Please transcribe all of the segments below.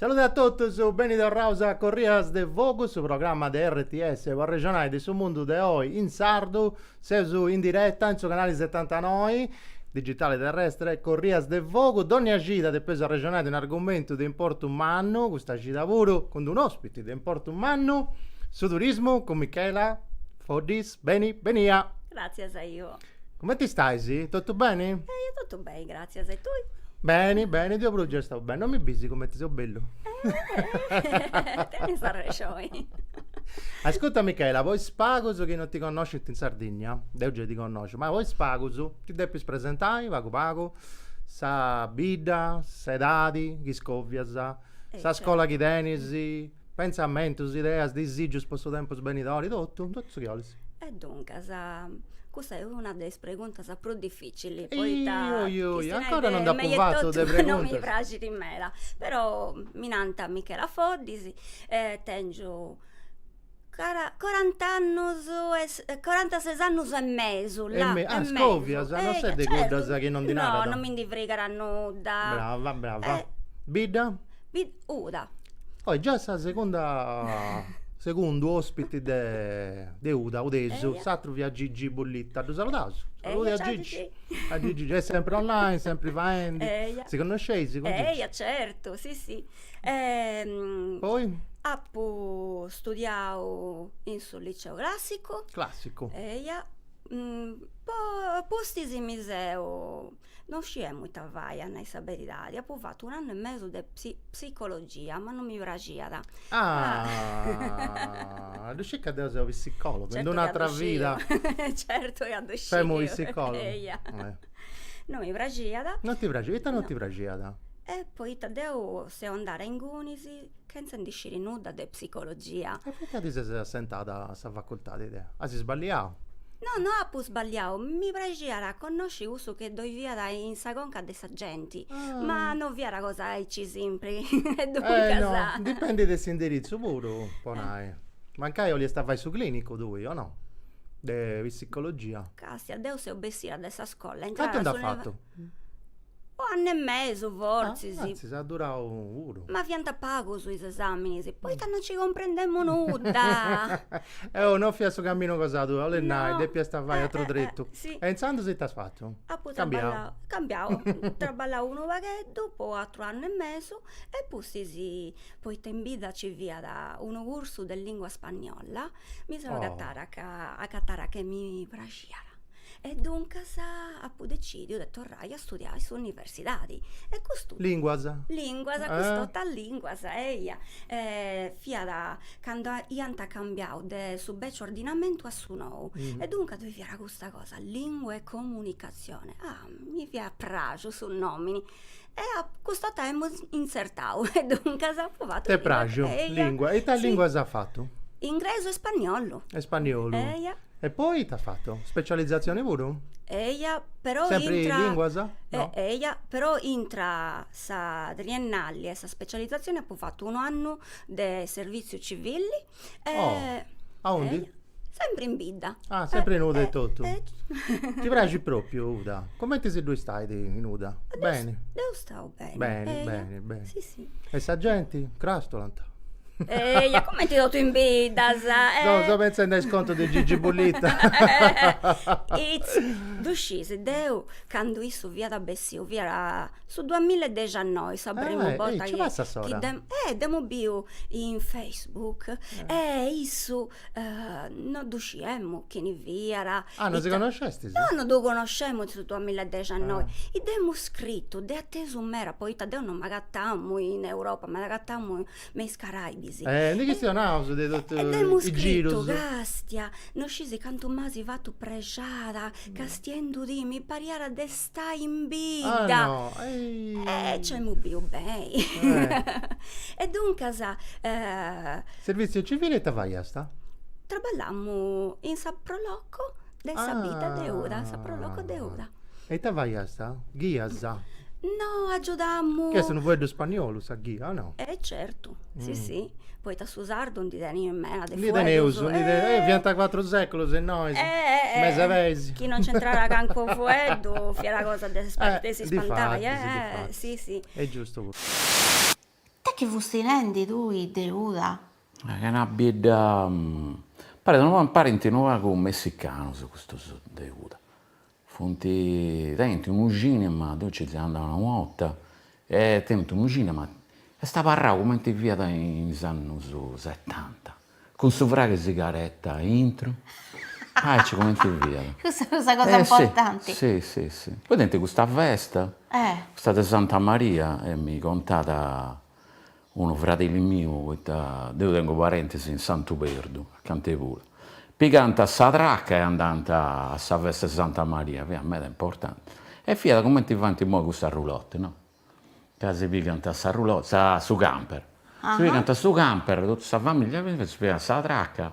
Salude a totus, beni torraus a Corrias de Fogu, su programma de RTS po arrexonai de su mundu de oi in sardu. Seus in direta in su canali setantanoi, digitali terrestre, Corrias de Fogu. Dònnia cida depeus arrexonai de unu argumentu de importu mannu, custa cida puru cun d'unu ospiti de importu mannu, su turismu, cun Michela Foddis. Beni benia! Gràtzias a tui. Cumenti stais? Totu beni? Eh, ia totu beni, gràtzias. E tui? Beni, beni, deu puru già istau beni. Non mi bis cumenti seu bellu? Eh, tenis arrexoni. Ascurta Michela, po is pagus chi non ti connoscint in Sardigna, deu giai ti connosciu, ma po is pagus ti depis presentai pagu pagu sa bidda, s'edadi chi scovias, sa scola chi tenis. Pentzamentus, ideas, disìgius po su tempus benidori, totu, totu su chi 'olis. E ancora, cussa est una de is preguntas prus dificilis, poita chistionai de mei etotu non mi praxit meda, però mi nant Michela Foddis, tengiu corantases... corantases annus e mesu, là, e mesu, scovias, non ses de cuddas chi non ndi narat. No, non mi ndi frigat nudda. Brava, brava. Bidda? Uda. Oi già sa seconda segundu ospiti de Uda, udesu, s'atteru fiat Gigi Bullitta, ddu saludaus. Salude a Gigi. A Gigi, est sempri online, sempri faendi. Eia. Si connosceis cun Gigi? Eia certu, si si. Poi? Apu studiau in su liceu classicu. Classicu. Eia, apustis mi seu Non sciemu ita fai a nai sa beridadi, apu fatu un'annu e mesu de psicologia, ma non mi praxiat. Ah, ddu sciu ca deu seu psicologu, in un'atra vida. Certu ca ddu sciu. Femu psicologu. Eia. Non mi praxiat. Non ti praxiat, ita non ti praxiat? E poita deu seu andada a ingunis Chentza ndi sciri nudda de psicologia. E poita ti ses assentada a sa facultadi de. As sballiau? No, no apu sballiau, mi praxiat a connosci cussu chi ddoi fiat in sa conca de sa genti. Ma no fiat cosa aici simpri e duncas. Eh no, dipendit de s'indiritzu puru, po nai. Mancai 'oliast a fai su clinicu tui, o no? De psicologia. Castia, deu seu bessida de sa scola, intrada. Cantu nd'as fatu? Un'annu e mesu fortzis. Antzis at durau puru. Ma fiant pagus is esaminis, poita no ci cumprendemu nudda. Eh, no fiat su caminu cosa tua, 'olit nai, depiast fai atru tretu. E intzandus ita as fatu? Apu traballau, cambiau, apu traballau unu pagheddu po atru annu e mesu e pustis, poita in bidda ci fiat unu cursu de lingua spagnola, mi seu agatada ca, agatàt ca mi praxiat E duncas apu decìdiu de torrai a studiai in s'universidadi e custu. Lìnguas. Lìnguas, custu totu lìnguas, eia. Fiat cando iant cambiau de su beciu ordinamentu a su nou. E duncas ddoi fiat custa cosa, lingua e comunicatzione. Ah, mi fiat apràxiu su nòmini, E custa dd'emu intzertau e duncas apu fatu... T'est praxiu, lingua, e ita linguas as fatu? Ingresu e spagnolu. E spagnolu. Eia. E poi ita as fatu? Specializzazioni puru? Eia, però intra... Sempri linguas? No. Eia, però intra sa triennali e sa specializzazioni apu fatu unu annu de serviziu civili Aundi? Sempre in bidda. Ah, sempre in Uda e totu. Ti praxit propriu Uda? Comenti si ddui istait in Uda? Beni? Deu stau beni. Beni, beni, beni. Si, si. E sa genti? Crastulant? Eia, comenti totu is biddas. No, seu pentzendi a is contus de Gigi Bullita. Ddu scis, deu candu issu fiat bessiu fiat Su duamilla e dexannoi sa prima borta chi chi deu, eh dd'emu biu in Facebook e issu no ddu sciemu chini fiat. Ah no si connoscestis? No no ddu connoscemu in su duamilla e dexannoi, dd'emu scritu, fui atesu meda poita deu no m'agatamu in Europa, m'agatamu me is Caraibis. Eh ndi chistionaus de totu is girus. E dd'emu scritu, castia, no scisi cantu m'asi fatu prexada castiendudì, mi pariat de stai in bidda e c'emu bìviu beni e duncas Serviziu civili ita faiasta? Traballamu in sa pro loco de sa bidda de Uda, sa pro loco de Uda. E ita faiasta? Ghiasa? No agiudamu Chi est unu fueddu spagnolu sa ghia o no? E certu Si si, poita su sardu ndi teneus meda de fueddus. Ndi teneus, ndi teneus, fiant cuatru seculus innoi, mesa peis. Chi non nc'intrat calincunu fueddu fiat cosa de si spantai, eh, si si. Est giustu puru. E su chi fusti nendi tui de Uda? Ch'est una bidda, parit unu pagu, parint unu pagu messicanus custus de Uda, Funt tenint unu cinema, deu nci seu andau una 'orta, e tenint unu cinema, est abarrau cumenti fiat in is annus setanta, cun su fraghe sigaretta aintru, aici cumenti fiat. Cussa fut sa cosa importanti. Si si si, poi tenint custa festa, custa de Santa Maria, e mi contat unu fradeli miu poita deu tengu parentes in Santu Perdu, acanta puru, pigant sa traca e andant a sa festa 'e Santa Maria, fiat meda importanti, e fiat cumenti faint immoi custas roulotte, no, ca si pigant sa roulotte, sa su camper, si pigant su camper totu sa familia si pigant sa traca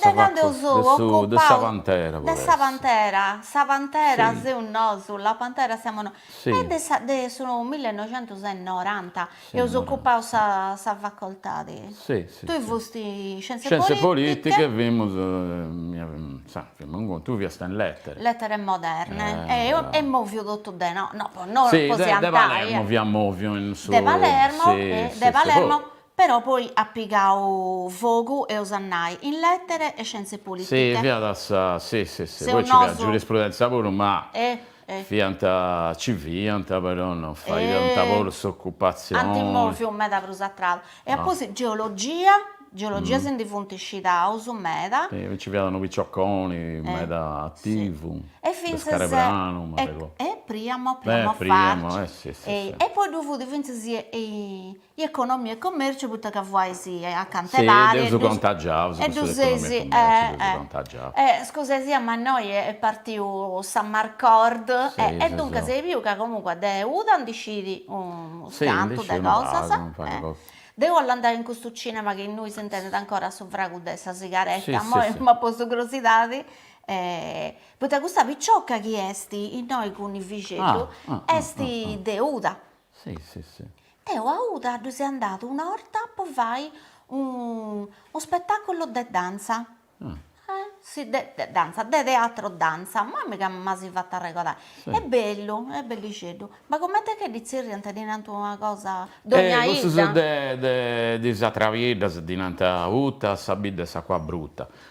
Dai cando eus occupau, de sa Pantera, sa Pantera seus nosu, la Pantera siamo noi, e de sa de su millenoixentus e noranta eus occupau sa sa facoltadi, tui fusti in scienze politiche e fimus, insoma, fimus in contu, tui fiasta in lettere, lettere moderne, e est moviu totu de nosu, no po nosu, po si antai, de Palermo fia moviu in su, de Palermo, de Palermo Però poi at pigau fogu, eus a nai, in lètere e scientze pulitiche. Si, fiant sa, si, si, si, poi nci fiat giurisprudentzia puru, ma fiat, nci fiant, però non fadiant puru s'ocupatzioni. Ant mòviu meda prus a tradu. E apoi geologia, geologia si ndi funt scidaus meda. Si, nci fiat unu picioconi meda ativu, de Scalepranu, m'arregodu. E Priamo, Priamo Farci. E poi ddu fut fintzas i economia e commerciu poita ca fustis acanta 'e pari e ddus e ddu seis e scusa 'e sia ma innoi est partiu sa marcord e duncas e biu ca comunque de uda ndi scit unu cantu de cosas deu 'ollu andai in custu cinema chi innui s'intendit ancora su fragu de sa sigaretta imoi m'at postu crosidadi poita custa picioca chi est innoi cun is fillixeddus est de uda Si si si. Deo a Uta ddu seu andadu una 'orta po fai unu spettaculu de danza e si de danza de teatro danza ma mi' ca mi dda fait arregodai est bellu est bellixeddu ma comente che ddi zerriant ddi nant una cosa dogna 'idda. Cussus de de is atras biddas ddi nant uta sa bidda 'e s'acua bruta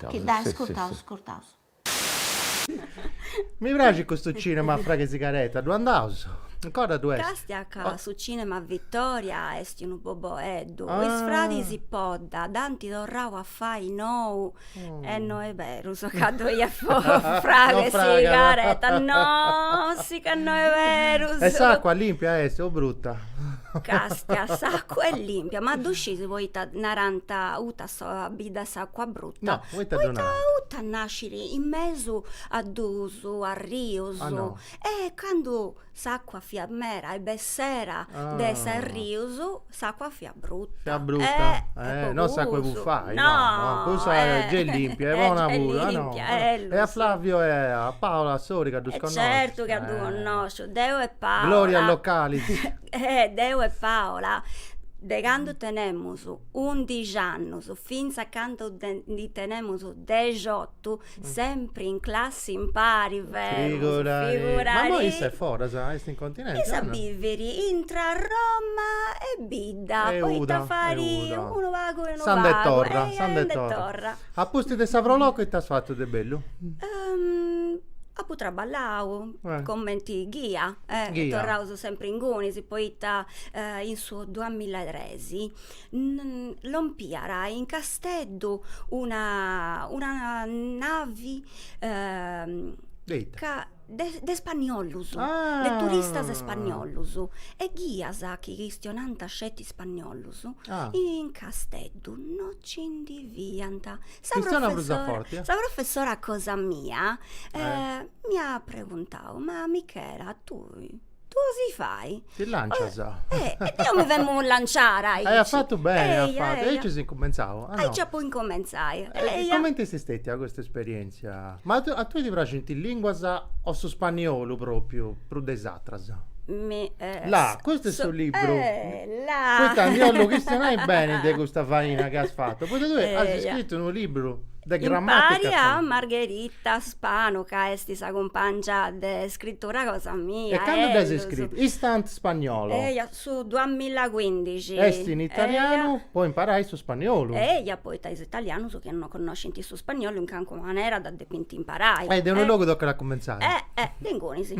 Iscurtaus. Chi dai, iscurtaus, iscurtaus. Mi praxit custu cinema a fragu 'e sigareta, ddu andaus? Ancora ddu est? Castia ca su cinema Vittoria est unu boboeddu, is fradis Podda dd'ant torrau a fai nou e no est berus ca ddoi at fragu 'e sigareta, no, si ca no est beru. E s'acua limpia est o bruta? Castia, s'acua est limpia, ma ddu scis poita narant uta sa bidda 'e s'acua bruta. No, poita già narant. Poita Uta nasciri in mesu a dus arrius. Ah no. E candu s'acua fiat meda e bessera de s'arrius s'acua fiat bruta. Fiat bruta. Eh eh no s'acua 'e bufai. No. Cussa est gei limpia, e bona puru. Ah no. E a Flavio e a Paola Atzori ca ddus connoscis. E certu ca ddu connosciu. Deu e Paola. Gloria Localis. Deu e Paola de candu tenemus undixi annus fintzas candu ndi tenemus dexiotu sempri in classi impari femus figurale. Ma immoi issa est foras, est in continenti? Issa bivit intra Roma e Bidda poita fait unu pagu e unu pagu. S'andat e torrat, s'andat e torrat. Apustis de sa pro loco ita as fatu de bellu? Apu traballau cumenti ghia, torraus sempri ingunis poita in su duamilla e tres Pesi, lompiant in Casteddu una una navi de ita? ca de de spagnolus ah de turistas spagnolus e ghias chi chistionànt sceti spagnolus ah in Casteddu no ci ndi fiant sa chistionat prus a forti eh sa professora cosa mia m'iat preguntau ma Michela tui Dd'olis fai? Ti lancias? Eh, e deu mi femu lanciada aici. Aiat fatu beni, aiat fatu. E aici as cumentzau. Aici apu incumentzau. E comenti est stetia custa esperientzia? Ma a tui ti praxint is linguas o su spagnolu propriu prus de is atras? Mi La, custu est su libru. La. Poita ndi 'ollu chistionai beni de custa faina chi as fatu, poita tui as scritu unu libru De gramàtica Impari a sa. Margherita Spano ca est sa cumpàngia de scritura cosa mia. E cando dd'as iscrita? Instant spagnolo. Eja, su duamilla e cuindixi. Est in italianu po imparai su spagnolu. Eja, poita is italianus chi no connoscint su spagnolu in calincuna manera dda depint imparai. E de unu logu tocat a cumentzai. Eh, eh, de ingunis.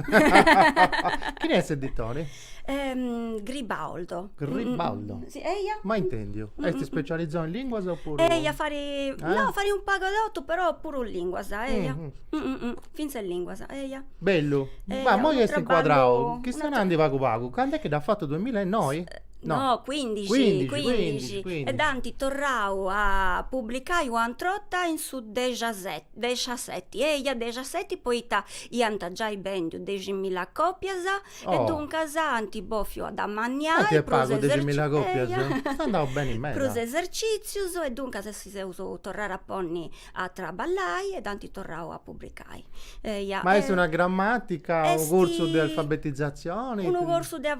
Chini est s'editore? Gribaudo. Gribaudo? Si, eia. Mai intendiu. Est ispecializau in linguas opuru. Eia, fait, no, fait un pagu 'e totu, però puru linguas, eia. Fintzas linguas, eia. Bellu. Ma immoi est incuadrau chi stait nendi pagu pagu, cand'est chi dd'as fatu duemilenoi? No, cuindixi. Cuindixi, cuindixi, cuindixi. E dd'ant torrau a publicai una atera 'orta in su dexaseti, dexaseti, eia, dexaseti, poita iant giai bendiu deximilla còpias E duncas anti bofiu amanniai prus esercìtzius e duncas si seus torraus a ponni a traballai e dd'ant torrau a publicai. Ma est una gramàtica, unu cursu de alfabetizatzioni? Unu cursu de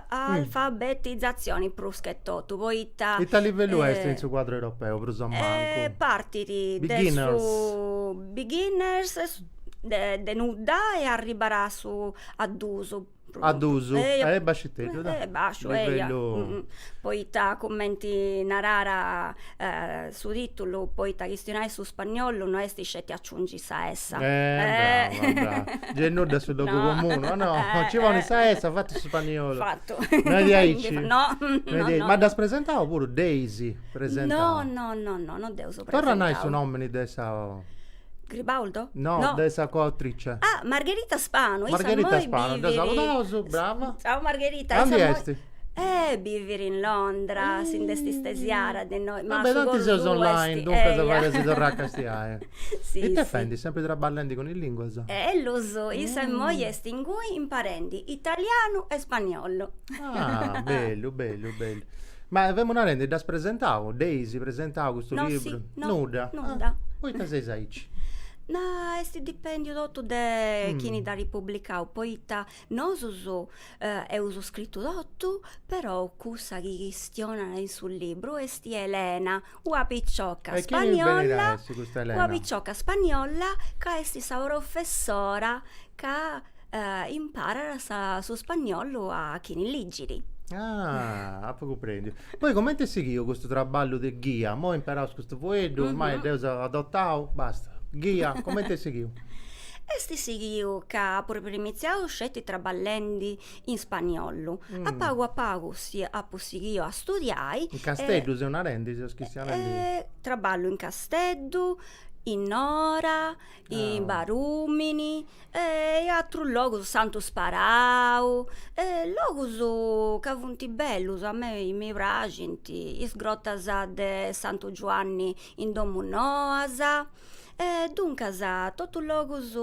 alfabetizatzioni prus che totu, poita. Ita livellu est in su cuadru europeu prus a mancu? Partit de su beginners de nudda e arribat a su A2 A2 est basciteddu e basciu poita cumenti narat su titulu poita chistionai su spagnolu no est sceti aciungi sa essa ponis sa essa nudda su logu comunu o no ci boni sa essa fatu su spagnolu fatu no est diaici no ma dd'as presentau puru dd'eis presentau no no no no no dd'eus presentau torra nai su nomini de sa Gribaldo? No, no, de sa coautrice. Ah, Margherita Spano. Margherita Spano, dda saludaus, brava. Ciao Margherita. Aundi est? Eh, bivit in Londra, si nd'est istesiada de innoi. Ma beh, tanti seus online, duncas fadeus si torrai a castiai. Si, si. Ita est fendi, sempri traballendi cun is linguas? Ellus, issa immoi est inguni imparendi italianu e spagnolu. Ah, bellu, bellu, bellu. Ma femu narendi, dd'as presentau? Dd'eis presentau custu No, si, libru? no, Nudda? nudda. Ah, poita seis aici? Ma, est dipèndiu totu de chini dd'at ripublicau, poita nosus eus scritu totu, però cussa chi chistionat in su libru est Elena Una picioca custa, una picioca spagnòlla ca est sa professora ca imparat sa su spagnolu a chini ligit. Ah, apu cumprendiu. Poi comenti est sighiu custu traballu de ghia? Imoi imperaus custu fueddu, ormai dd'eus adotau, basta. Ghia, comenti est sighiu? Est sighiu ca apu primitziau sceti traballendi in spagnollu. A pagu a pagu si apu sighiu a studiai. In Casteddu seus narendi, seus chistionendi? Traballu in Casteddu, in Nora, in Barumini e in atrus logus, Santu Sparau, logus ca funt bellus, a mei mi praxint, is grotas de Santu Giuanni in Domu Noas, e duncas totu logus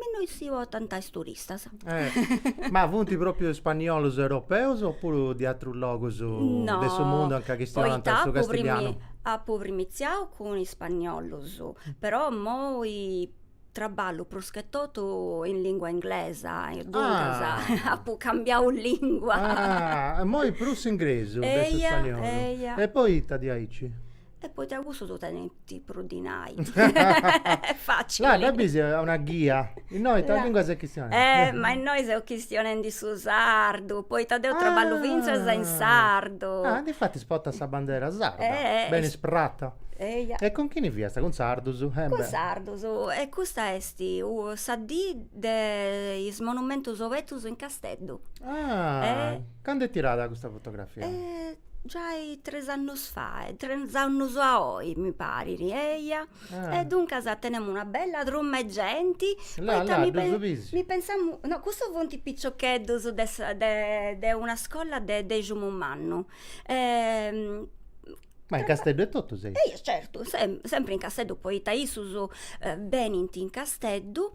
Innoi si portant is turistas. Eh, ma funt propriu spaniolos europeos o puru de atrus logus de su mundu anca chistionant su castillianu? No, poita apu primitziau cun is spaniolos, però immoi traballu pruschetotu in lingua inglesa e duncas apu cambiau lingua. Ah, immoi prus s'ingresu de su spaniolu. Eia, eia. E poita diaici? E poita cussus tenint prus dinai. Là dda bis a una ghia. Innoi ita lingua ses chistionendi? Eh ma innoi seu chistionendi su sardu, poita deu traballu fintzas in sardu. Ah, difatis portas sa bandera sarda. Eh eh. Benis prata. Eia. E cun chini fias, cun sardus? Eh beh. Cun sardus. E custa est sa dì de is monumentus obetus in Casteddu. Ah. Eh. Candu est tirada custa fotografia? Eh Giai tres annos fae, tres annos a oi mi parit, eia, e duncas tenemu una bella truma 'e genti, poita mi mi pensamu, no cussos funt piciocheddos de sa de de una scolla de Deximumannu Ma in Casteddu etotu seis? Eia certu, sempri in Casteddu, poita issus benint in Casteddu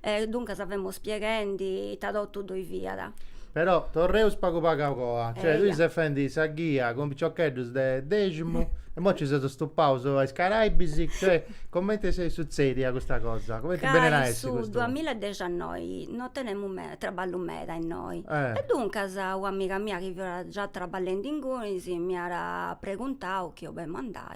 E duncas femos pieghendi ita totu ddoi fiat. Però torreus pagu pagu a coa, cioè tui ses fendi sa ghia cun piciocheddus de Deximu e imoi nci ses stupau a is Caraibis, cioè cumenti est sutzedia custa cosa, cumenti benit a essi custu. Ca in su duamiladiexannoi no tenemu meda, traballu meda innoi, e duncas una amiga mia chi fiat già traballendi ingunis m'iat preguntau chi 'olemu andai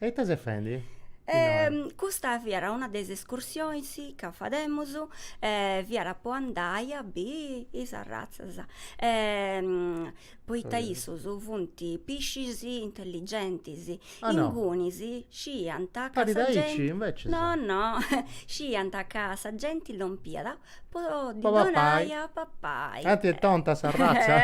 E ite ses fendi? custa fiat una de is escursionis ca fademus, fiat po andai a biri is arratzas e poita issus funt piscis intelligentis, ingunis sciiant ca sa genti, no no, sciiant ca sa genti lompiat Po ddi donai a papai. Tanti est tonta s'arratza.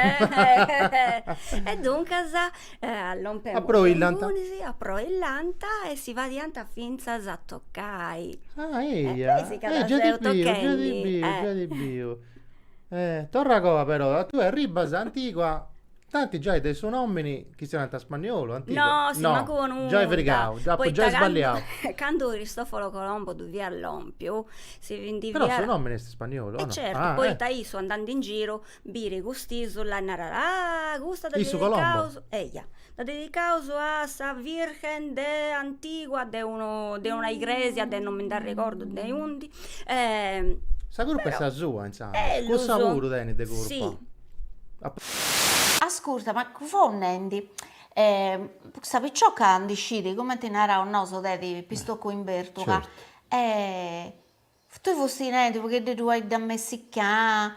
E duncas allompent ingunis, aproillant e si fadiant fintzas a tocai. Ah eia, eh già dd'apu biu, già dd'apu biu, già dd'apu biu. Torra a coa però, tue arribas a Antigua Tanti giai de su nòmini chi siat unu Spaniolu, antigu. No, mancu po nudda. Giai frigau, apu giai sballiau. Poita candu Cristoforo Colombo ddui fiat lòmpiu, si ndi fiat. Però su nòmini est Spaniolu, o no? E certu, poita issu andandi in giru biit cust'isula e narat, ah, custa dda dedicaus. Issu Colombo? Eja, dda dedicaus a sa virgen de antigua de unu de una igresia de non mi nd'arregordu de undi. Sa curpa est sa sua, intzandus. Cussa puru tenit de curpa. Ascurta, ma fo nendi, custa picioca ndi scit, cumenti naraus nosu, de ti pistocu in bertula, e tui fusti nendi, pagheddeddu est amachiada,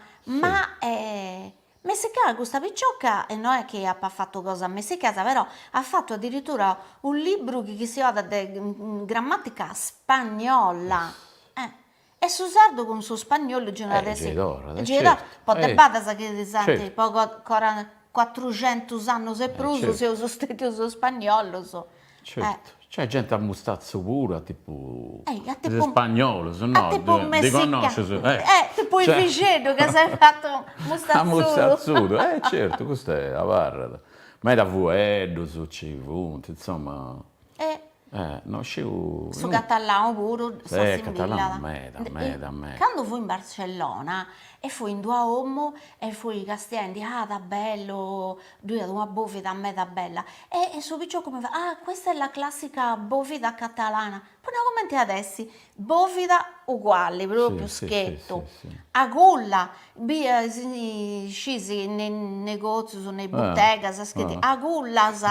amachiada custa picioca, e no est chi apat fatu cosas ammachiadas, però at fatu addirittura unu libru chi chistionat de grammatica spagnola, e E su sardu cun su spagnolu gei una de si. Po de badas chi po cuatruxentus annus e prus seus stetius spagnolos. Certu, nc'est genti a mustatzu puru a tipu de is spagnolus, no, ndi connoscius. Tipu is bixeddus ca s'est fatu mustatzudu. A mustatzudu, eh certu, custu abarrat. Meda fueddus nci funt, insoma. E no sciu. Su catalanu puru s'assimbillat. Meda meda meda. Cando fui in Barcellona e fui in d'una 'omu e fui castiendi, ah ta bellu, ddu iat una bovida meda bella, e su piciocu mi fait, ah questa è la classica bovida catalana, po nai comente at essi, Bovida uguali propriu schettu a culla bia scisi ne negozius ne buttegas schettu a cullas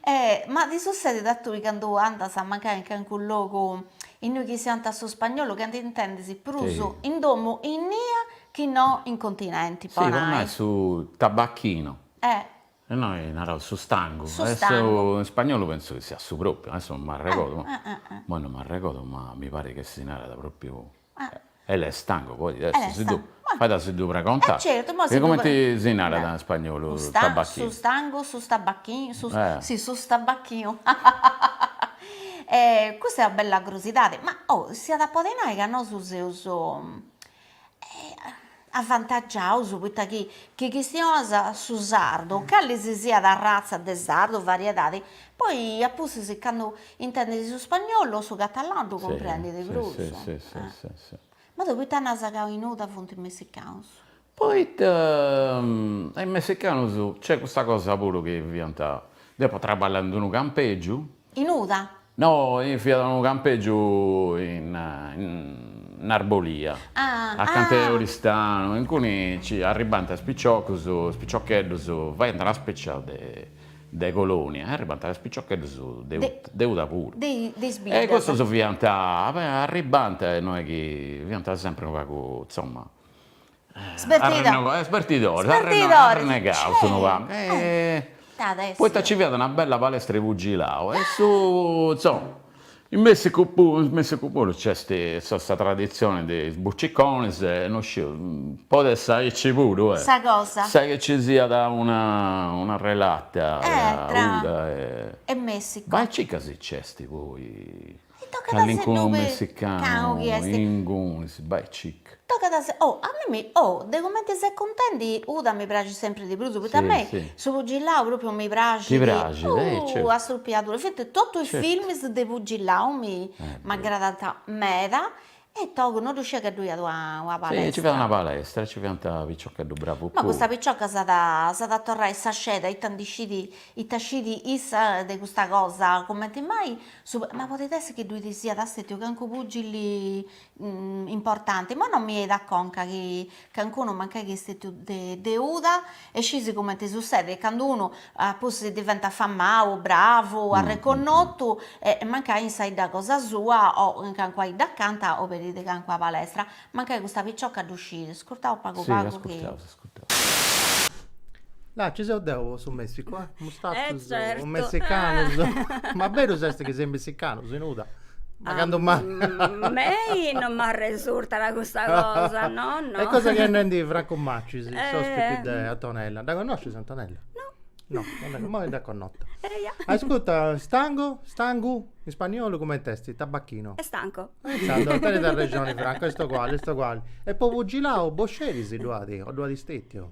e ma ti sussedit a tui candu andas a mancai in calincunu logu innui chistionant su spagnolu ca ti intendis prus in domu innia chi no in continenti po nai. Si po nai su tabacchinu. E noi naraus su stangu. Su stangu. In spagnolu pentzu chi siat su propriu, adesso non m'arregodu, immoi non m'arregodu, ma mi parit chi si narat propriu el estanco, poi est, si ddu, fait a si ddu pregontai, e cumenti si narat in spagnolu tabacchinu. Su stangu, su stabacchinu, su, si su stabacchinu custa est una bella crusidadi, ma oh, s'iat a podi nai ca nosu seus avantagiaus poita chi chi chistionas su sardu, cali si siat arratza de sardu, variedadi, poi a pustis candu intendis su spagnolu o su catalanu ddu cumprendis prus. Si si si si. Ma deu poita nas ca in Uda funt is messicanus? Poita is messicanus nc'est custa cosa puru chi fiant, deu apu traballadu in unu campegiu In Uda? No, in fiat unu campeggiu in in Arborea, acanta 'e Oristanu, inguni nci arribbant is piciocus, is piciocheddus, faiant una specia de de colonia e arribbant is piciocheddus de de Uda puru. De de is biddas. E cussus fiant, arribbant e no est chi fiant sempri unu pagu, insomma Sbertida. Sbertidori. Sbertidori. Arrennegaus su novanta. Poita nci fiat una bella palestra 'e pugilau e su insoma. In Messicu puru, in Messicu puru nc'est sa traditzioni de is buciconis e no sciu, podet essi aici puru. Sa cosa. Sa chi nci siat una una relata. Tra. E Messicu. Ma aici ca si nc'est poi. Tocat a si ddu peri. Messicanu ingunis bai cica. Tocat a si, oh, a mimì, oh, de cumenti ses cuntendi Uda mi praxit sempri de prus, poita a mei su pugillau propriu mi praxit. Ti praxit, eh, certu. Oh, a strupiadura, infatti totu is filmis de pugillau mi m'aggradant meda E togu no ddu sciia ca ddoi iat una una palestra. Si, nci fiat una palestra e nci fiant piciocheddus bravus puru. Ma custa picioca s'at s'at a torrai sa sceda, ita ndi scit ita scit issa de custa cosa, cumenti mai su, ma podit essi chi ddui siat stetiu calincunu pugili importanti, imoi no mi 'enit a conca chi Calincunu mancai chi est de Uda e scis cumenti sussedit candu unu pustis diventat famau, bravu, arreconnotu e mancai in sa 'idda cosa sua o in calincuna 'idda acanta oberit calincuna palestra. Mancai custa picioca ddu scit. Iscurtaus pagu pagu chi. Là chi seu deu po su Messicu, eh! Mustatzus o messicanus, ma berus est chi seis messicanus in Uda? Ma candu mai? A mei non m'arresurtat custa cosa, no, no. Est cosa chi est nendi Francu Macis, s'ospiti de Antonella. Dda connoscis Antonella? No. No, non dda, mai dda connota. Eia. Ascurta, stango, stangu, in spagnolu cument'est? Tabacchino. Estanco. E intzandus tenit arrexoni Francu, est oguali, est oguali. E po pugilau, boxeris ddu at, o ddu at stetiu?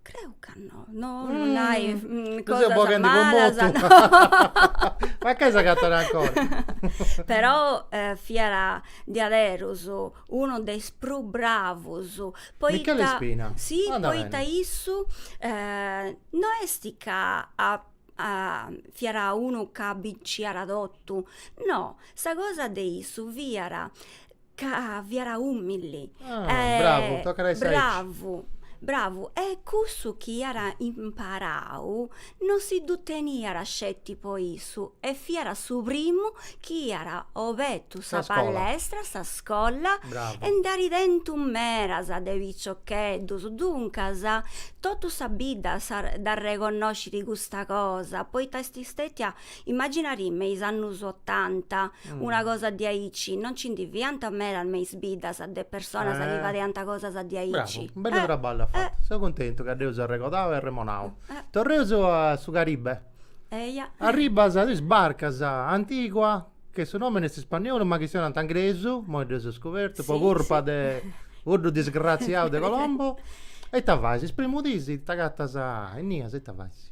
Creu ca no, no non hai mm, cosas seu boghendi po malas, motu. no. Ma che s'agatat ancora? Però eh, fiat diaderus unu de is prus bravus, poita... Michele Spina? Si, Anda poita bene. issu eh, no est ca fiat unu ca binciat totu, no, sa cosa de issu fiat Ca fiat ùmili. Ah, bravu, tocat a essi aici. Bravu, bravu. E cussu chi iat imparau no si ddu teniat sceti po issu e fiat su primu chi iat obertu sa palestra, sa scola e nd'at tentu medas de piciocheddus. Duncas, totu sa bidda dd'arreconnoscit custa cosa, poita est stètia Immaginadì me is annus otanta, una cosa diaici, non nci ndi fiant medas me is biddas de personas chi fadiant cosas diaici. Bravu, u' bellu traballu at fatu. Seu cuntentu ca dd'eus arregodau e arremonau. Torreus a su Caribe. Eia. Arribas e isbarcas a Antigua, chi su nomini est ispagnolu ma chistionant ingresu, imoi dd'eus scobertu, po curpa de cuddu disgraziau de Colombo. E ita fais? Is primus dis t'agatas a innias e ita fais?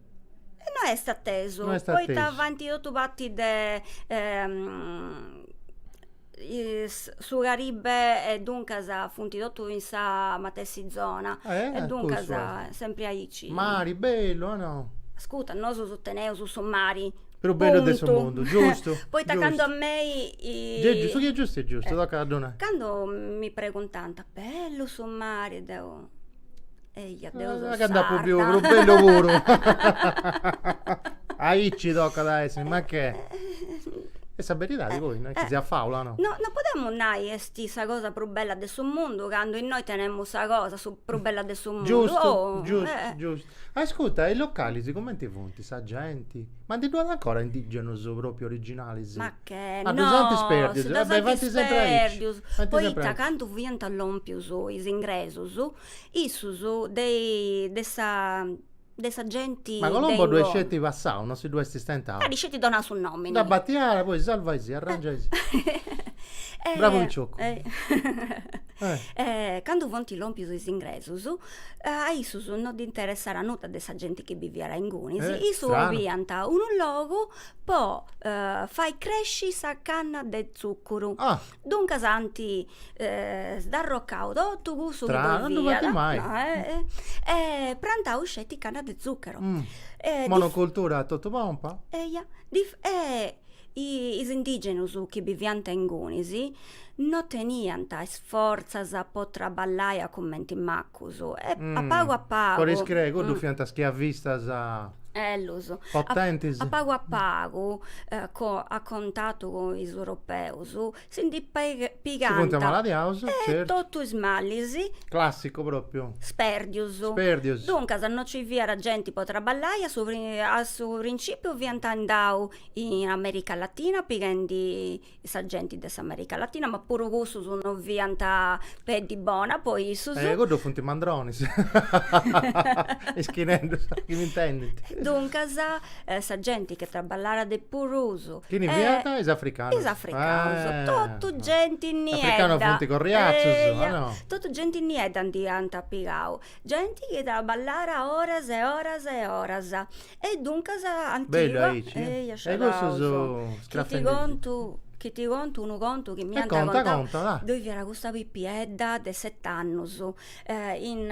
E no est atesu, no est atesu. poita faint totu parti de su Caribe e duncas funt totu in sa matessi zona e duncas sempri aici. Mari bellu o no? Ascurta, nosu teneus su mari prus bellu de su mundu, giustu? Poita candu a mei su chi est giustu est giustu, tocat a ddu nai. Candu mi preguntant, bellu su mari, deu Eja deu so sarda. Ca nd'apu biu prus bellu puru. Aici tocat a essi, ma chi est sa beridadi poi, no est chi siat fàula, no. No no podemus nai est sa cosa prus bella de su mundu candu innoi tenemus sa cosa prus bella de su mundu. Giustu, giustu, giustu. Ascurta, e is localis cumenti funt, sa genti? Ma ndi ddu at ancora indigenus propriu originalis? Ca no si ddus ant isperdius, poita candu fiant lompius is ingresus, a issus de de sa de sa genti de inguni. Ma Colombo ddu est sceti passau, no si ddu est istentau. Dd'at sceti donau su nomini. Dda batiau, poi salva is, arrangia is. Bravu piciocu. Candu funt lompius is ingresus, a issus no ddis interessat nudda de sa genti chi biviat a ingunis, issus 'oliant unu logu po fai cresci sa canna de tzuccuru. Ah. Duncas ant sdarrocau totu cussu chi ddu fiat. Tra, non faint mai. No, eh, eh. E prantau sceti canna de tzuccuru. Mm. E ddi Monocultura a totu pompa? Eia. Ddi e is indigenus chi biviant ingunis no teniant is fortzas po traballai a cumenti ma Cussu est a pagu a pagu. Cori screi, cuddu fiant schiavistas. Ellus. Potentis. A pagu a pagu, a cuntatu cun is europeus, si ndi pigant. Si funt amaladiaus, certu. Totu is malis. Classicu propriu. Sperdius. Sperdius. Duncas no ci fiat genti po traballai, a su a su principiu fiant andau in America Latina pighendi sa genti de s'America Latina, ma puru cussus no fiant peddi bona po issus. Eh, cuddos funt mandronis, is chi nendus chi m'intendint. Duncas, sa genti chi traballat de prus. Chini fiant? Is africanus. Is africanus, totu genti niedda. Africanus funt corriazus, o no? Totu genti niedda nd'iant pigau, genti chi traballat oras e oras e oras. E duncas ant pigau eia sciadaus. Chi ti contu unu contu chi m'iant contau, ddoi fiat custa pipiedda de set'annus in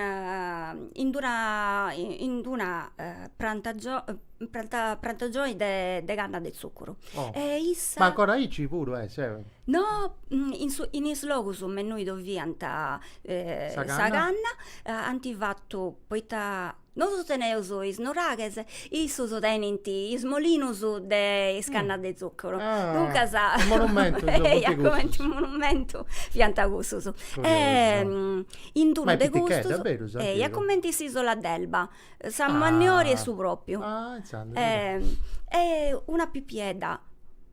in d'una in d'una prantagioni de canna de tzuccuru e issa. Ma ancora aici puru est ses? No in su in is logus me innui ddoi fiant sa canna ant fatu poita Nosu teneus is nuraghes, issus tenint is molinus de sa canna de tzuccuru, duncas, eia cumenti unu monumentu, fiant cussus, in d'unu de custus, eia cumenti s'isola d'Elba, sa mannària 'e su propriu, e una pipiedda,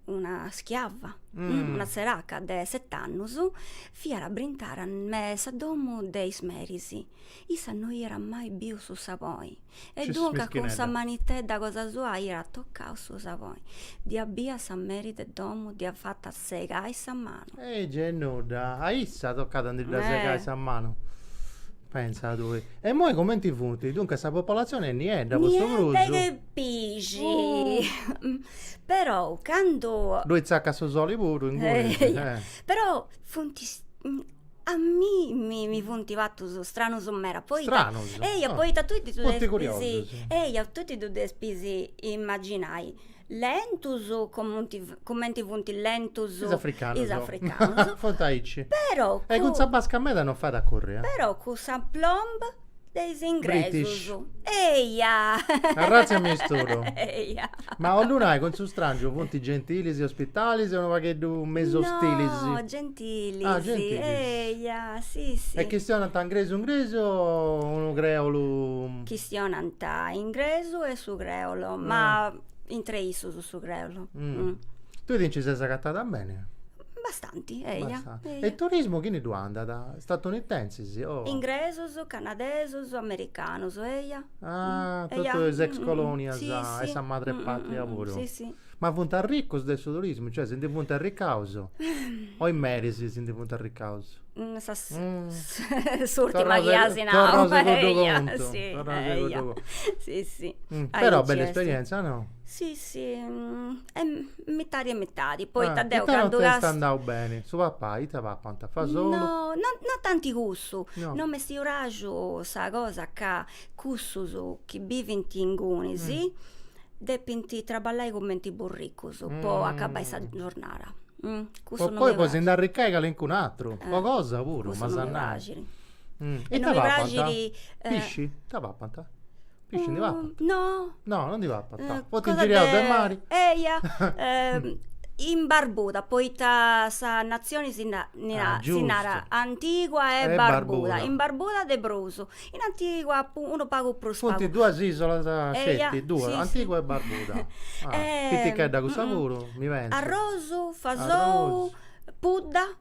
una schiava, una tzeraca de set'annus fiat brintada me sa domu de is meris Issa no iat mai biu su saboni e duncas cun sa manitedda cosa sua iat tocau su saboni. Dd'iat bida sa meri de domu, dd'iat fatu segai sa manu. E gei nudda, a issa tocàt a ndi dda segai sa manu? Pensa tui. E imoi comenti funt? Duncas sa popolatzioni est niedda po su prus. Niedda che pixi. Però candu ddoi tzacat su soli puru inguni. Però funt is A mimmi mi funt partus stranus meda poita, stranus eia poita tui ti ddus curiosus, eia tui ti ddus depis imaginai lentus comunti cumenti funt lentus is africanus, is africanus funt aici, però, e cun sa basca meda non fait a curri, però cun s'aplomb de is ingresus eia arratzia misturu eia ma 'ollu nai cun su strangiu funt gentilis e ospitalis e unu pagheddu mesu ostilis no gentilis ah gentilis eia si si e chistionant ingresu ingresu o unu creolu chistionant ingresu e su creolu ma intre issus su creolu tui ti nci ses agatada beni Bastanti, eia. E turismu chini ddu andat? Statunitensis o. Ingresus, canadesus, americanus, eia. Ah, totu is ex colonias e sa madrepatria puru. Si, si. Ma funt arricus de su turismu, cioè si ndi funt arricaus? O is meris si ndi funt arricaus? S'urtima chi as nau. Torraus a cuddu contu. Si, eia. Si, si. Però bella esperienza, no? Si, si. Mitadi e mitadi, poita deu candu castia. Ita non t'est andau beni? Su papai, ita papant fasolu? No, no tanti cussu, no m'est praxu sa cosa ca cussus chi bivint ingunis depint traballai cumenti burricus po acabai sa giornada. Po poi po si nd'arricai calincun'aturu, po cosa puru, ma s'andai. Cussu no mi praxit. Ita papant? Pisci? Ita papant? Pisci ndi papat? No. No, no ndi papant. Cosa Funt ingiriaus de mari. Eia, in Barbuda, poita sa natzioni si narat, si narat Antigua e Barbuda. In Barbuda de prus, in Antigua unu pagu prus pagu. Funt duas isolas sceti, duas, Antigua e Barbuda. Pitichedda cussa puru, mi pensu. Arrosu, fasou, pudda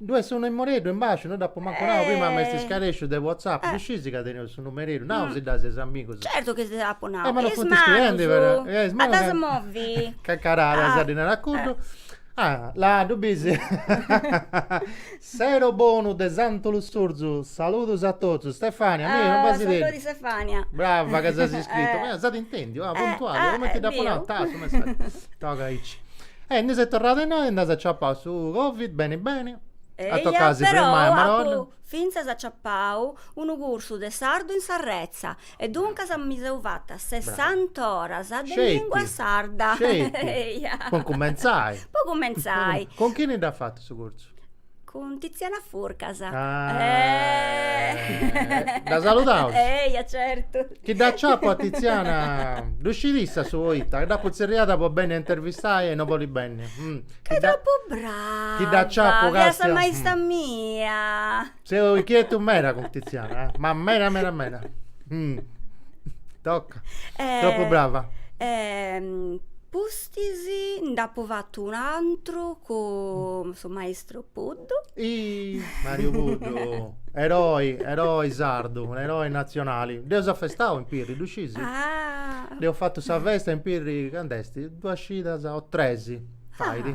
Ddu est su numereddu in basciu, no dd'apu mancu nau prima, m'est scaresciu de whatsapp, ddu scieis ca teneus su numereddu, nau si dd'as eis amigus. Certu chi si dd'apu nau, is manus, a ddas movi. Cacaradas ddi narat a cuddu. Là ddu bis. Sero bonu de Santu Lussurzu, saludus a totus, Stefania, mi unu basideddu. Saludis Stefania. Brava ca ses iscrita, s'at intendiu, ah puntuali, cumenti dd'apu nau, ta su messaggiu, toga aici. E ndi ses torrada innoi e nd'as aciapau su Covid beni beni. At tocau a si firmai, Madonna. Eia, però apu fintzas aciapau unu cursu de sardu in s'arretza e duncas mi seu fata sessant'oras de lingua sarda. Sceti, sceti, po incumentzai. Po incumentzai. Cun chini dd'as fatu su cursu? Cun Tiziana Furcas. Eeeh! Dda saludaus? Eja, certu. Chi dd'aciapu a Tiziana, ddu scit issa su poita, dd'apu tzerriada po benni a dd'intervistai e no bolit benni. Ca est tropu brava, chi dd'aciapu castia. Chi est sa maista mia. Seu inchietu meda cun Tiziana, ma meda meda meda. Toca. Tropu brava. Pus Pustis nd'apu fatu un'antru cun su maistru Puddu. Ih! Mariu Puddu, eroi, eroi sardu, eroi nazionali. Dd'eus afestau in Pirri, ddu scisi? Ah! Eus fatu sa festa in Pirri, candu est? Duas cidas o tres faidi.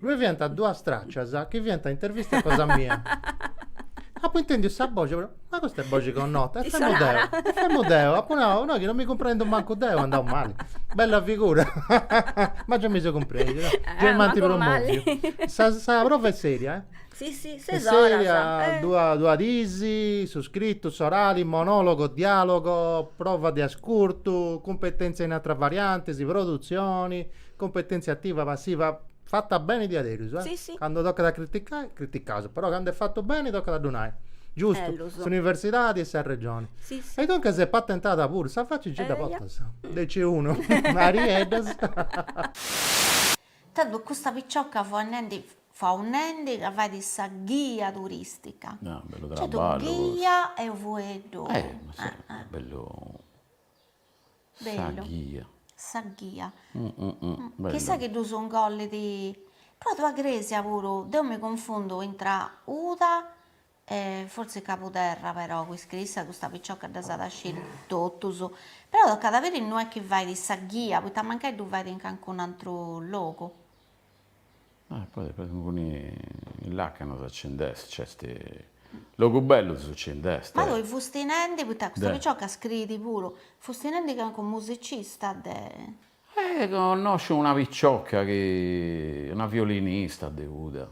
Ddue fiant duas tràcias chi fiant intervistas cosa mia. Apu intèndiu sa boxi, apu nau, ma custa est boxi connota, e femu deu, e femu deu, apu nau, no chi non mi cumprendu mancu deu, andaus mali. Bella figura, ma gei mi seu cumpresu, no, gei m'ant promoviu. Sa sa prova est sèria, eh? Si, si, ses oras. Est sèria, duas duas diis, su scritu, s'orali, monòlogu, diàlogu, prova de ascurtu, cumpetèntzia in atera varianti, si produtzioni, Competentzia ativa passiva fata beni diaderus, eh? Si si. Candu tocat a criticai, criticaus, però candu est fatu beni tocat a ddu nai. Giustu. Bellus. S'universidadi e sa Regioni. Si si. E duncas est patentada puru, sa faci nci dda portas. De C unu. Arieddus. Tando custa picioca fiaus nendi fiaus nendi ca fait sa ghia turistica. Ah, bellu traballu custu. Ghia est fueddu. Eh, ma si, bellu. Sa ghia. Sa ghia. Chi sa chi ddus ingollit, portat crèsia puru, deu mi cunfundu intra Uda e fortzis Cabuderra però, cussu issa custa piciocca ddas at a sciri totus, però tocat a biri innui est chi fait sa ghia, poita mancai ddu fait in calincun'atru logu Ma tui fusti nendi, poita custa picioca scriit puru, fusti nendi calincunu musicista de. Eh connosciu una picioca chi, una violinista de Uda,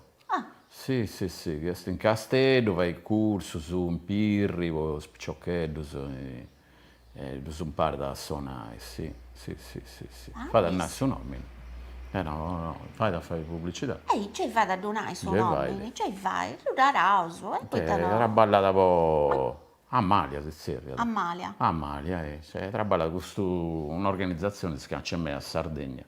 si si si chi est in Casteddu, fait cursus in Pirri po is piciocheddus E ddus imparat a sonai, si, si, si, si, si. Fait a nai su nòmini. E no, no, fait a fai publicidadi. E certu chi fait a ddu nai su nòmini, certu chi fait, ddu naraus, e poita no. Traballat po, Amalia si tzerriat. Amalia. Amalia, e traballat cun custa organizatzioni chi si canci meda a Sardegna.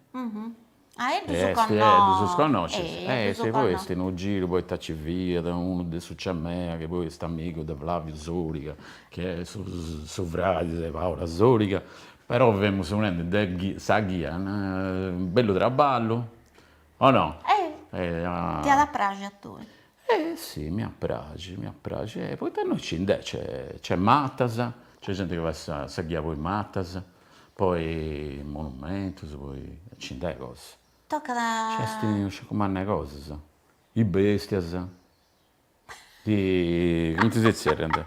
Ah ge ddus connoscis. Ge ddus connoscis, e si poi est unu giru, poita ci fiat unu de su Ciamea, chi poi est amigu de Flaviu Soriga, chi est su su fradi de Paula Soriga, però femus chistionendi de sa ghia, bellu traballu, o no? Ti at a praxi a tui? E si, mi praxit, mi praxit, e poita innoi nci nd'est, nc'est matas, nc'est genti chi fait sa ghia po is matas, poi monumentus, poi, nci nd'est cosa. Tocat. Nc'est unu sciacu mannu 'e cosas, is bèstias, is, cumenti si zerriant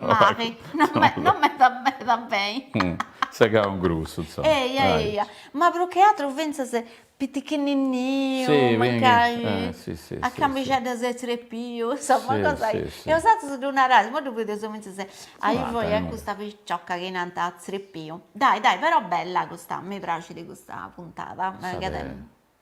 Mari, non meda meda beni. Segau in grussu, insoma. Eia, eia, ma prus che aturu fintzas pitichinninniu, mancai, a cambixedda ses zerpiu, insoma, cosa, e osatrus ddu narais, imoi ddu bidius fintzas, ai foi a custa piciocca chi nant zerpiu, dai dai però bella custa, mi praxit custa puntada,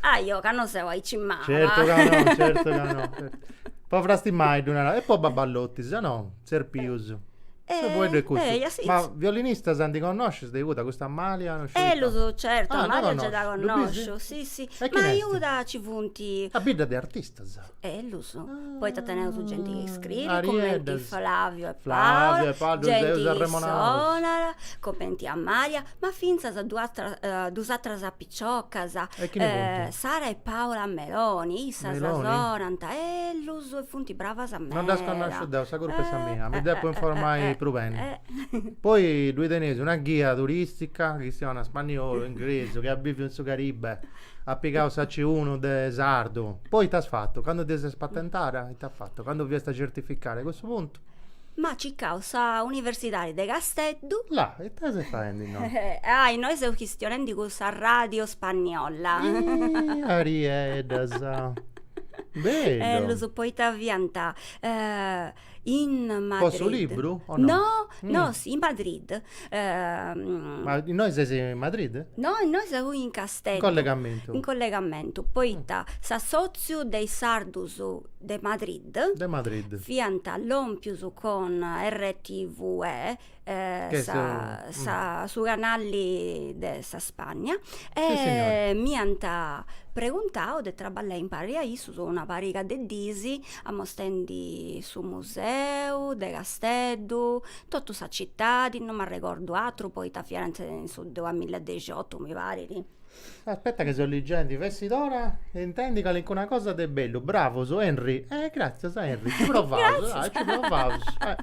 Aiò ca non seu aici mala. Certo ca no, certo ca no. Po frastimaiddu nara, e po Babballotti, si no zerpius. Su fueddu est custu. Eh, eh, Ma violinistas ndi connoscis de Uda, custa Amalia no sciu ita. Ellus, certu, Amalia gei dda connosciu, si si. Ma a Uda ci funt. A bidda de artistas. Ellus, poita teneus genti chi scriit cumenti Flavio e Paola, genti chi sonat cumenti Amalia, ma fintzas duas atras piciocas, Sara e Paola Meloni, issas sonant bellus e funt bravas meda. Non ddas connosciu deu, sa curpa est sa mia, mi depu informai prus beni. Poi ddoi teneis una ghia turistica chi chistionat spaniolu, ingresu, chi at biviu in su Caribe At pigau su C unu de sardu. Poi ita as fatu? Candu ti ses patentara? Ita as fatu? Candu fiast a certificare? A cussu puntu. M'at circau sa universidadi de Casteddu. La, ita ses faendi innoi? Ah, innoi seu chistionendi cun sa radio spagniola. Iih, Arieddas. Bellu. Ellus, poita fiant In Madrid. Po su libru o no? No, no, in Madrid. Ma innoi ses in Madrid? No, innoi seu in Casteddu. In collegamentu. In collegamentu, poita s'assotziu de is sardus de Madrid. De Madrid. Fiant lompius cun RTVE sa su canali de sa Spagna e mi ant preguntau de traballai impari a issus una pariga de dis amostendi su museu de Casteddu, totu sa citadi, non m'arregordu aturu poita fiant in su duamilla e dexiotu mi parit Aspetta ca seu ligendi, fessit ora 'e intendi calincuna cosa de bellu. Bravus Henry. Eh gratzias Henry, ci provaus, ah, ci provaus. Eh.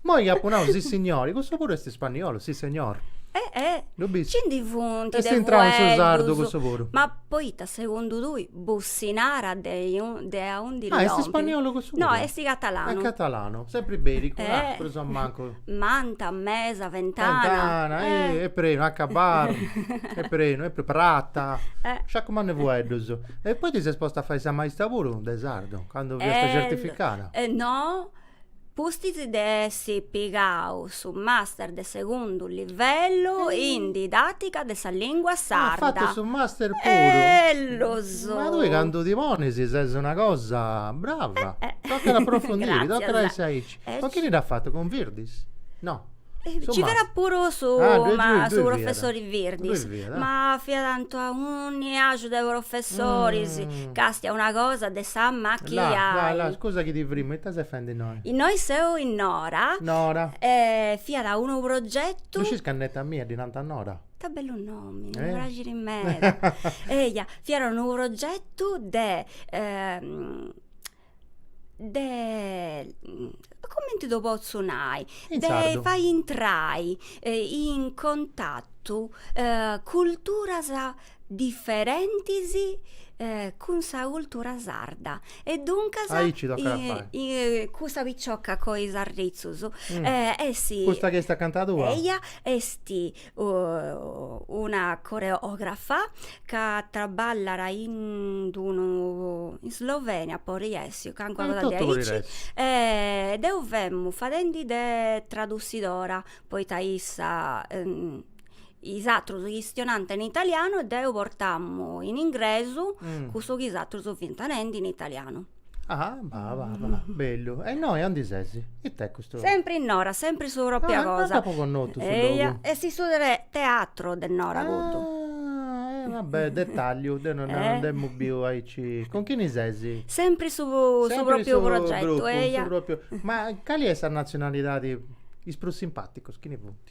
Imoi apu nau sissignori, cussu puru est ispanniolu, si señor. Eh eh. Lu bist. Ci ndi funt de Est intrau in su sardu fueddus. cussu puru. Ma poita segundu tui Bussinara de iun- de aundi Ah, est lompit? ispanniolu cussu puru? No, est catalanu. Est catalanu, sempri ibericu, Eh. ah, prus o mancu. manta, mesa, ventana. Ventana, eh, est prenu, acabaddu, est prenu, e prata, eh. sciaccu mannu 'e fueddus. E poi ti ses posta a fai sa maista puru de sardu, candu fiasta eh, certificada? Eh no, pustis de essi pigau su master de segundu livellu in didatica de sa lingua sarda. Ah, fatu su master puru? Ellus! Ma tui candu ti ponis est una cosa brava, eh, eh, toccat a aprofundiri, toccat a essi aici. Ma chini l'at fatu cun Virdis? No. Ci fiat puru su su professori Virdis, ma fiat anto a unu aciu de professoris, castia una cosa de s'amachiai. Là là scusa chi ti frimu, ita ses fendi innoi? Innoi seu in Nora. Nora. E fiat unu progetu. No scis ca a neta mia ddi nant Nora. Ita bellu nomi, mi praxit meda. Eia, fiat unu progetu de de comenti ddu potzu nai de fai intrai in contattu culturas diferentis cun sa cultura sarda e duncas cussa piciocca cun is arritzus est custa chi est acanta tua eia est una coreògrafa ca traballat in d-unu in Slovenia podit essi o calincuna cosa de aici e deu femu fadendi de tradussidora poita issa is atrus chistionant in italianu e deu portamu in ingresu cussu chi is atrus fint nendi in italianu Ah bah bah bah bellu. E innoi andi ses? It'est custu? Sempre in Nora, sempre su propria cosa. Ah, no t'apo connotu su logu. Eia, est su teatro de Nora custu. Ah, e va bè, detalliu, deu no dd'emu biu aici. Cun chini ses? Sempre su propriu progettu, eia. Sempre su propriu gruppu, su propriu. Ma cali est sa natzionalidadi, is prus simpàticus chini funt?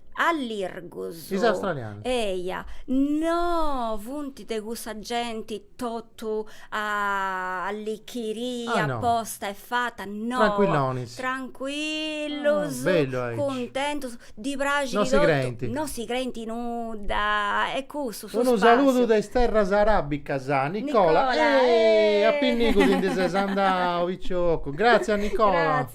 allirgus. Is australianos. Eia, no funt de cussa genti totu allichiria ah, no. aposta e fata, no. Tranquillonis. Tranquillus. Ah, bellu aici. Cuntentus, ddis praxit totu. No si creint. No si creint in nudda e cussu Unu saludu de is terras aràbicas a Nicola e a pinnigu ti ndi ses andau picioccu gràtzia Nicola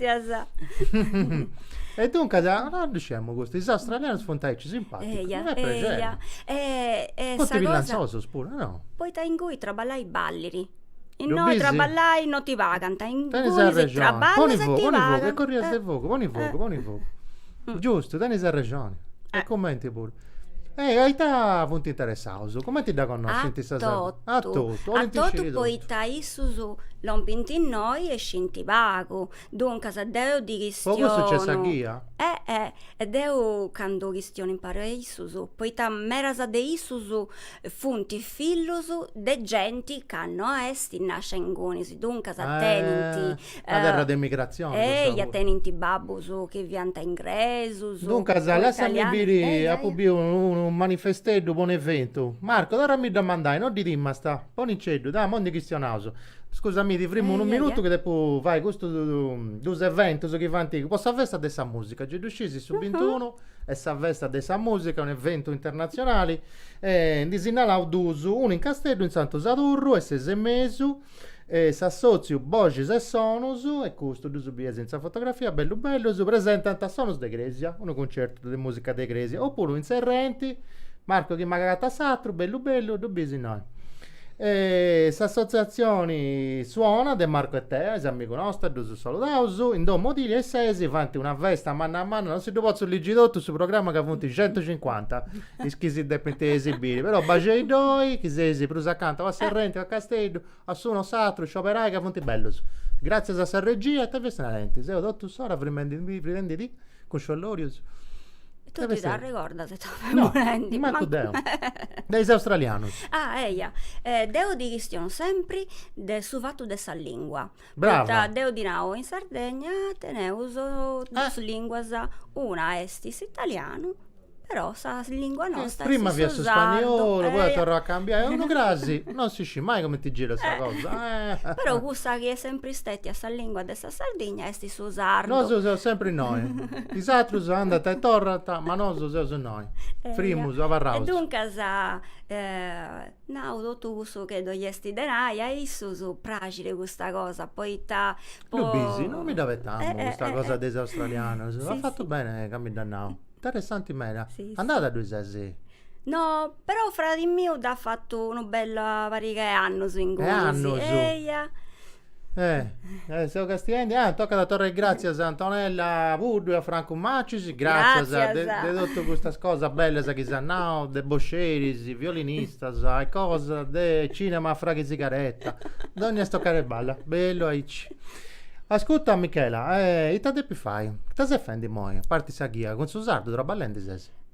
e duncas no ddu sciemu custu, is australianus funt aici simpàticus mi fait prexeri funt bellantzosus puru no? Poita inguni traballai ballit Innoi traballai no ti pagant, ingunis traballas e ti pagant. Corrias e fogu, poni fogu, poni fogu. Giustu, tenis arrexoni. E cumenti puru. E a ita funt interessaus? Cumenti dda connoscint sa Sardegna? A totu. A totu poita issus lompint innoi e scinti pagu. Duncas deu ddis chistionu. Po custu nc'est sa ghia? E deu candu chistionu imparu a issus, poita medas de issus Funt fillus de genti ca no est nascia inguni, duncas tenint, una terra de imigratzioni cussa puru, eia, tenint babbus chi fiant ingresus, duncas lassami biri, apu biu unu manifesteddu po un'eventu, Marco torrami·ddu a mandai, no t'irmentist, boniceddu, dai, imoi ndi chistionaus, scusa mi ti frimu unu minutu chi depu fai custus duus eventus chi faint po sa festa de sa musica, gei ddu scisis su bintunu Est sa festa de sa mùsica, un'eventu internatzionali, e ndi sinnalaus duus, unu in Casteddu, in Santu Sadurru, is ses e mesu, est s'assòtziu Boxis e Sonus, e custu ddus bieis in sa fotografia, bellus bellus, presentant Sonus de Crèsia, unu concertu de mùsica de crèsia, opuru in Serrenti, Marco chi m'agatat s'atru, bellu bellu, ddu bieis innoi. E s'assotziatzioni Suona de Marco e Tea, is amigus nostus, ddus saludaus, in domu Otilia is ses faint una festa manna manna, non si ddu potzu ligi' totu su programma ca funt centucincuanta is chi si depint esibiri, però baxei ddoi, ki seis prus acanta o a Serrenti o a Casteddu, a s'unu o s'atru, scioberai ca funt bellus. Gratzias a sa regia e a tui, festina tentis, deu totu s'ora frimendi frimendi·dì cun sciollorius. E tu ti arregordas ita femus nendi? No, mancu deu. De is australianus. Ah, eia. Deu ddis chistionu sempri de su fatu de sa lingua. Brava. Poita deu ddis nau, in Sardegna teneus duus linguas, una est s'italianu, però sa lingua nostra est su sardu. Prima fiat su spagnolu, poi at a torrai a cambiai, unu crasi, non si scit mai cumenti girat sa cosa. Però cussa chi est sempri stetia sa lingua de Sa Sardigna est su sardu. Nosu seus sempri innoi. Is atrus andant e torrant, ma nosu seus innoi. Frimus abarraus. E duncas, nau totu cussu chi ddoi esti de nai, a issus praxit custa cosa, poita po. Ddu bisi, no mi dd'abetamu custa cosa de is australianus. As fatu beni ca mi dd'as nau. Interessanti meda. Andada ddoi sesi? No, però fradi miu dd'at fatu una bella pariga 'e annus inguni. E annus? Eia Eh, eh, seu castiendi. Ah, tocat a torrai gràtzias a Antonella Puddu e a Francu Macis. Gràtzias, de, Gràtzias. de totu custas cosas bellas chi s'at nau, de bosceris, violinistas e cosas, de cinema a fragu 'e sigaretta. Donni est tocai de balla. Bellu aici. Ascuta Michela, eh, ita depis fai? Ita ses fendi imoi, a parti sa ghia, cun su sardu traballendi ses?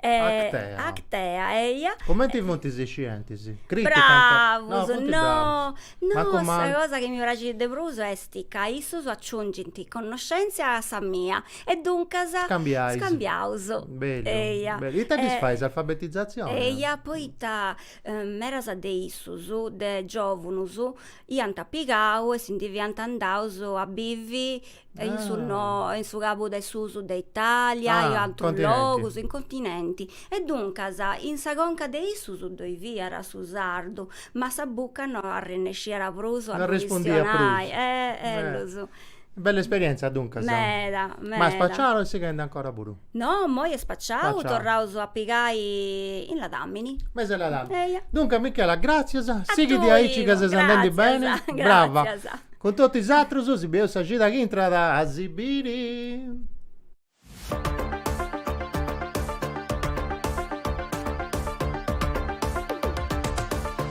Actea. Actea, eia. Cumenti funt is scientis? Bravus, no, no, sa cosa chi mi praxit de prus est ca issus aciungint connoscèntzia a sa mia e duncas scambiaus. Bellu, eia. Bellu. Ita ddis fais s'alfabetizatzioni? Eia, poita medas de issus, de giòvunus, iant pigau e si ndi fiant andaus a bivi e in su no e in su cabu de susu de Italia e atrus logus in continenti e duncas in sa conca de issus ddoi fiat su sardu ma sa bucca no arrennesciat prus a ddu chistionai bella esperienza duncas meda meda ma spaciada o sighende ancora puru No, moi est spaciau, Spaciau. torraus a pigai in ladàmini. Mese 'e ladàmini. Eia. Duncas Michela, gràtzias, sighi de aici ca ses andendi beni, gràtzias, brava. gràtzias. Cun totu is atrus, si bieus sa cida chi intrat a si biri.